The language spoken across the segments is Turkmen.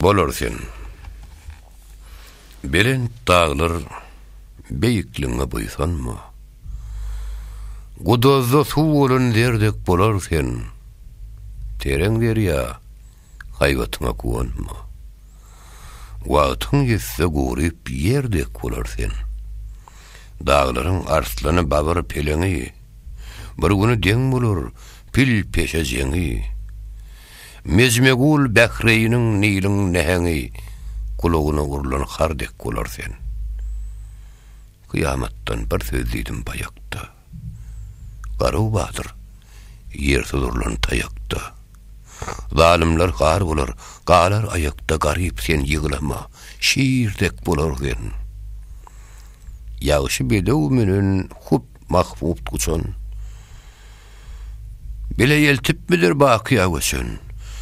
Bolar sen. Belent daglar beýikligiňe buýsanma. Gudazda suw bolan zerdek bolar sen. Tereň derýa, haýbatyňa guwanma. Wagtyň ýetse guryp ýer dek bolar sen. Daglaryň arslany babyr peleňi. Bir güni deň bolar pil peşe jeňi. Mezmegul Bähreýniň, Niliň näheňi, gulagyna urlan har dek bolar sen. Kyýamatdan bir söz diýdim baýakda. Garuw batyr, ýersiz urlan taýakda. Zalymlar gar bolar, galar aýakda garyp sen ýyglama, şir dek bolar sen. Ýagşy bedew menen hup mahbupt guçan. Bile eltipmidir bakyýa göçen?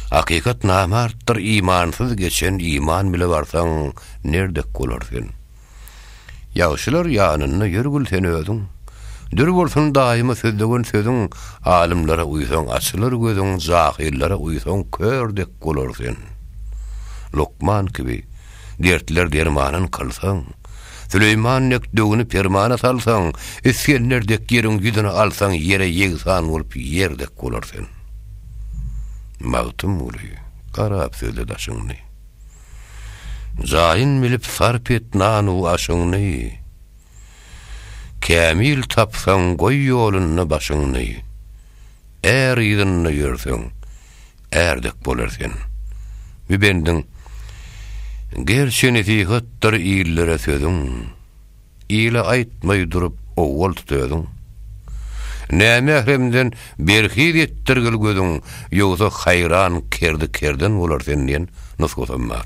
Hakykat namartdyr imansyz geçen Iman bile barsaň nerdek bolar sen? Ýagşylar ýanynda ýör gül sen özüň Dür bolsun daýyma sözlewen sözüň Alymlara uýsaň açylar gözüň Jahyllara uýsaň kör dek bolar sen Lukman kibi Dertler dermanyn kylsaň, Süleýman dek döwüni permana salsaň, Isgender dek ýeriň ýüzüni alsaň, Ýere ýegsan bolup ýer dek bolar sen. Magtymguly, garap sözle daşyňny. Jaýyn bilip sarp et nan-u aşyňny. Kämil tapsaň, goý ýolunda başyňny. Är yzynda ýörseň, är dek bolar sen. Bu bendiň Gerçi nesihatdyr illere sözüň, Ile aýtmaý durup owwal tut özüň. Nämähremden berhiz etdirgil gözüň, Ýogsa haýran kerdi kerden bolar sen diýen nusgasam bar.